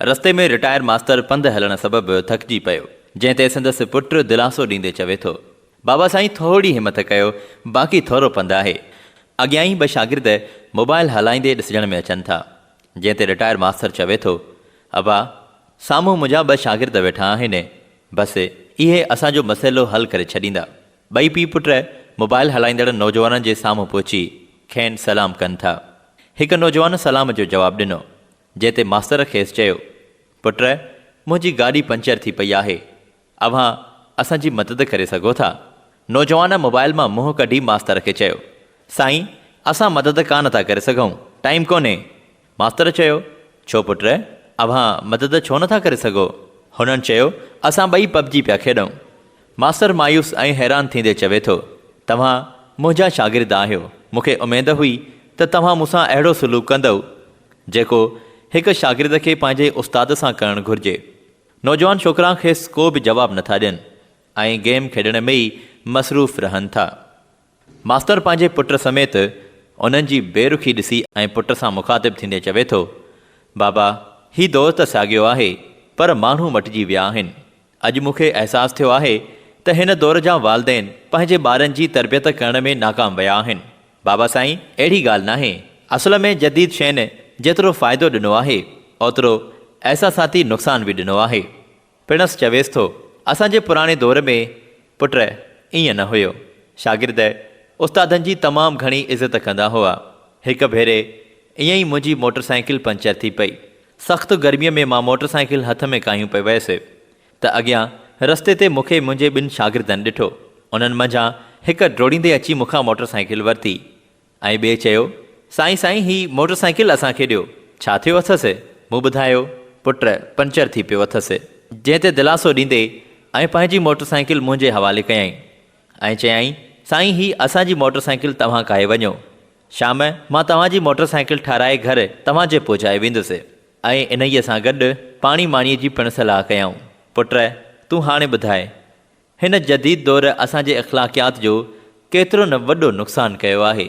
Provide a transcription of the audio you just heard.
رستي ۾ رٽائر ماستر پنڌ هلڻ سبب ٿڪجي پيو، جنهن تي سندس پٽ دلاسو ڏيندي چوي ٿو، بابا سائين ٿورڙي همٿ ڪيو، باقي ٿورو پنڌ آهي. اڳيان ئي ٻه شاگرد موبائل هلائيندي ڏسجڻ ۾ اچن ٿا، جنهن تي رٽائر ماستر چوي ٿو، ابا سامهون منهنجا ٻه شاگرد ويٺا آهن، بس اهي اسان جو مسئلو حل ڪري ڇڏيندا. ٻئي پيء پٽ موبائل هلائيندڙ نوجوانن جي سامهون پهچي کين سلام ڪن ٿا. هڪ نوجوان سلام جو جواب ڏنو، جنهن تي ماستر کيس چيو، پٽ! منهنجي گاڏي پنچر ٿي پئي آهي. اوهان اسان جي مدد ڪري سگهو ٿا؟ نوجوان موبائل مان منهن ڪڍي ماستر کي چيو، سائين! اسان مدد ڪانه ٿا ڪري سگهون، ٽائيم ڪونهي. ماستر چيو، ڇو پٽ! اوهان مدد ڇو نه ٿا ڪري سگهو؟ هنن چيو، اسان ٻئي پب جي پيا کيڏون. ماستر مايوس ۽ حيران ٿيندي چوي ٿو، توهان منهنجا شاگرد آهيو، مون کي اميد هئي ته توهان مون سان اهڙو سلوڪ ڪندؤ، جيڪو هڪ شاگرد کي پنهنجي استاد سان ڪرڻ گهرجي. نوجوان ڇوڪرا کيس ڪو به جواب نٿا ڏين ۽ گيم کيڏڻ ۾ ئي مصروف رهن ٿا. ماستر پنهنجي پٽ سميت انهن جي بي رخي ڏسي ۽ پٽ سان مخاطب ٿيندي چوي ٿو، بابا هي دور ته ساڳيو آهي پر ماڻهو مٽجي ويا آهن. اڄ مون کي احساس ٿيو آهي ته هن دور جا والدين پنهنجي ٻارن جي تربيت ڪرڻ ۾ ناڪام ويا آهن. بابا سائين اهڙي ڳالهه ناهي. اصل ۾ جديد شين جيترو فائدو ڏنو آهي اوترو احساساتي نقصان به ڏنو آهي. پڻس چويس ٿو اسان جي پراڻي دور ۾ پٽ ائين نه هيو. شاگرد استادن جي تمام گهڻي عزت ڪندا هئا. هڪ ڀيري ائين ئي منهنجي موٽر سائيڪل پنچر ٿي پئي. سخت گرميء ۾ مان موٽر سائيڪل هٿ ۾ ڪاهيون پئي ويس ته اڳيان رستي تي مون کي منهنجي ٻن شاگردن ڏٺو. انهن منجهان هڪ ڊوڙيندي اچي مون کان موٽر سائيڪل ورتي ۽ ٻئي چيو، سائين سائين هي موٽر سائيڪل اسان کي ڏيو. ڇا ٿيو اٿس؟ مون ٻڌايو، پٽ پنچر ٿي پيو اٿس. جنهن تي دلاسو ڏيندي ائين پنهنجي موٽر سائيڪل منهنجي حوالي ڪيائين ۽ چيائين، سائين هي اسان جي موٽر سائيڪل توهان ڪاهي وڃو. شام مان توهان جي موٽر سائيڪل ٺاهرائي گهر توهان جي پهچائي ويندس ۽ انهيء سان گڏ پاڻي ماڻيء جي پڻ صلاح ڪيائون. پٽ! تون هاڻي ٻڌاء، هن جديد دور اسان جي اخلاقيات جو ڪيترو نه وڏو نقصان ڪيو آهي.